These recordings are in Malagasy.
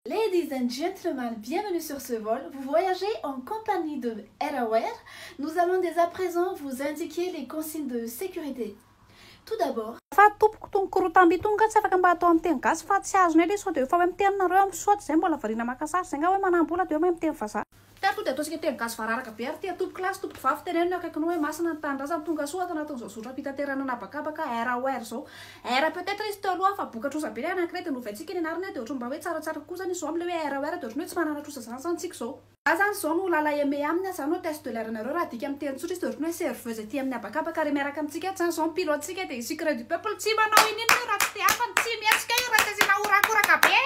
Ladies and gentlemen, bienvenue sur ce vol, vous voyagez en compagnie de AirAware, nous allons dès à présent vous indiquer les consignes de sécurité. Tout d'abord. Fa tompoko tony korotamby itony nga tsy afaka mba atao amin'ny teny gasy fa tsy azonay le sao de efa hoe miteny nareo amin'ny soit zay mbola variana maka sary zay nga hoe manambola de hoe mahay miteny vazaha. Ka to de ataontsika teny gasy vararaka be ary tia tompoko lahy sy tompoko vavy teneno ny akaikinao hoe masina ny tanindrazana tongasoa ato anatin'izao zotram-pitaterana an'habakabaka RAOR izao R peut etre izy teo aloha fa boka trosa be ilay anankiray de novaintsika ny anarany de ohatran'ny mba hoe tsaratsara kosa ny zo amin'ilay hoe RAOR de ohatran'ny hoe tsy manana trosa zany zany tsika izao Za zany izao no lala aimé aminy a, za no hotesse de l'air anareo, raha adika amin'ny teny tsotra izy de ohatran'ny hoe serveuse aty amin'ny habakabaka ary miaraka amintsika ato zany izao mpilo Tsika dia secret du peuple tsy manao ininona io raha tsy te hafany tsy mihetsika io raha tsy asiana horakoraka be.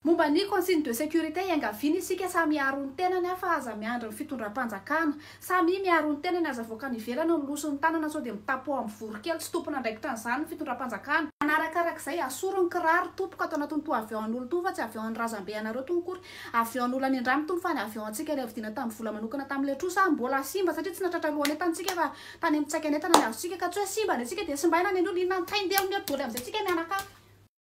Momba ny consigne de sécurité iangaviana isika samy hiaro ny tenany an fa aza miandry ny fitondram-panjakana. Samia miaro ny tenany aza avoaka any ivelany no miloso ny tanana sao dia mitapo ao amin'ny voronkely tsy tompon'andraikitra an'izany ny fitondram-panjakana. Manarakarak'izay asoro ny kiraro tompoko atao anatiny toa avion an'olo tony fa tsy avion an'ny razambe anareo tony akory. Avion an'olo any andrano tony fa ny avion antsika ilay vidiana tamin'ny vola manokana tamin'ilay trosa mbola simba satria tsy nahatratra alohanay tany tsika fa Tany amin'ny tsaikan'entana ny azontsika ka tsy hoe simba ny antsika dia simbaina ny an'olona inona antainy dia miha doly amin'izay tsika mianakavy.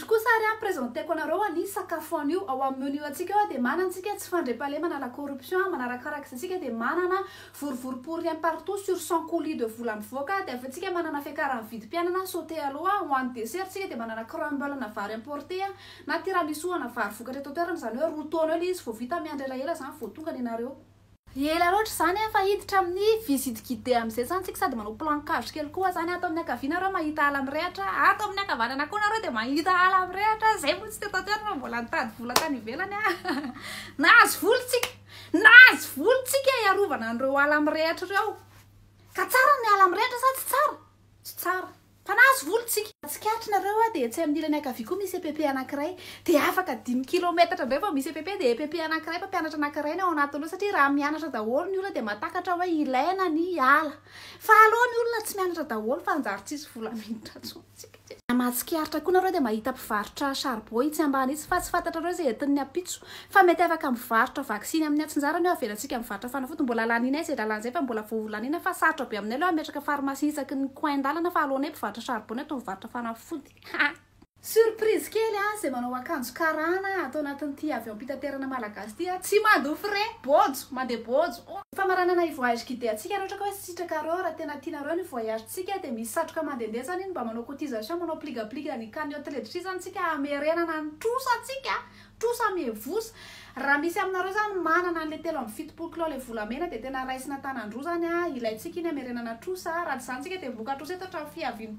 Izy kosa ary an, presenteko anareo an, ny sakafo anio ao amin'ny menu antsika eo dia manana antsika tsy fandriampahalemana la corruption an, manarakaraka izay tsika dia manana vorovoro pour rien partout sur cent colis de vola mivoaka dia avy eo tsika manana fiakaran'ny vidim-piainana sauté aloha an, ho an'ny dessert tsika dia manana crumble ana vary importé an, na tiramisu ana vary vokatra eto an-toerana izany hoe roa taona eo ilay izy vao vita miandry elaela izany vao tonga ny anareo. Ela loatra izany an fa hiditra amin'ny visite guidée amin'izay izany tsika sady manao plan cage kely koa izany ato amin'ny ankaviana nareo mahita ala mirehatra ato amin'ny ankavanana koa nareo dia mahita ala mirehatra izay moa tsy teto an-toerana fa mbola nitady vola tany ivelany an nahazo vola tsika nahazo vola tsika hiarovana an'ireo ala mirehatra ireo ka tsara ny ala mirehatra sa tsy tsara? tsy tsara Mpanazo vola tsika. Tsikaritra nareo a dia etsy amin'ny ilany ankavia koa misy EPP anankiray. Dia afaka dimy kilometatra indray vao misy EPP dia EPP anankiray mpampianatra anankiray ny ao anatiny ao satria raha mianatra daholo ny olona dia mahatakatra hoe ilaina ny hiala. Fa aleo ny olona tsy mianatra daholo fa hanjary tsisy vola miditra intsony tsika. Raha mahatsikaritra koa nareo dia mahita mpivarotra charbon itsy ambany itsy fa tsy fantatrareo izay entin'ny ampitso. Fa mety afaka mivarotra vaksiny amin'ny atsinjarany eo avelantsika mivarotra fanafody mbola lanianay izay lalana izay fa mbola vao ho laniana fa sarotra be aminay aloha hametraka pharmacie isaky ny coin dalana fa alohanay mpivarotra charbon eto mivarotra fanafody ha! Surprise kely an izay manao akanjo karana ato anatin'ity avion mpitaterana malagasy ity an! Tsy mandoa frais! Bojo! Mandeha bojo! Famaranana ny voyage guidé antsika raha ohatra ka hoe sitrakareo raha tena tianareo ny voyage tsika dia misy satroka mandehandeha zany iny mba manao cotisation manao pligapliga ny cagnotte ledritra izany tsika hamerenana ny trosa tsika Trosa mihevosa. Raha misy aminareo zany manana anle telo amby fitopolo kilao le volamena de tena raisina tanandroa zany a, ilaintsika iny amerenana trosa a, raha tsy zany tsika de mivoka trosa eto hatramin'ny fiavian'ny.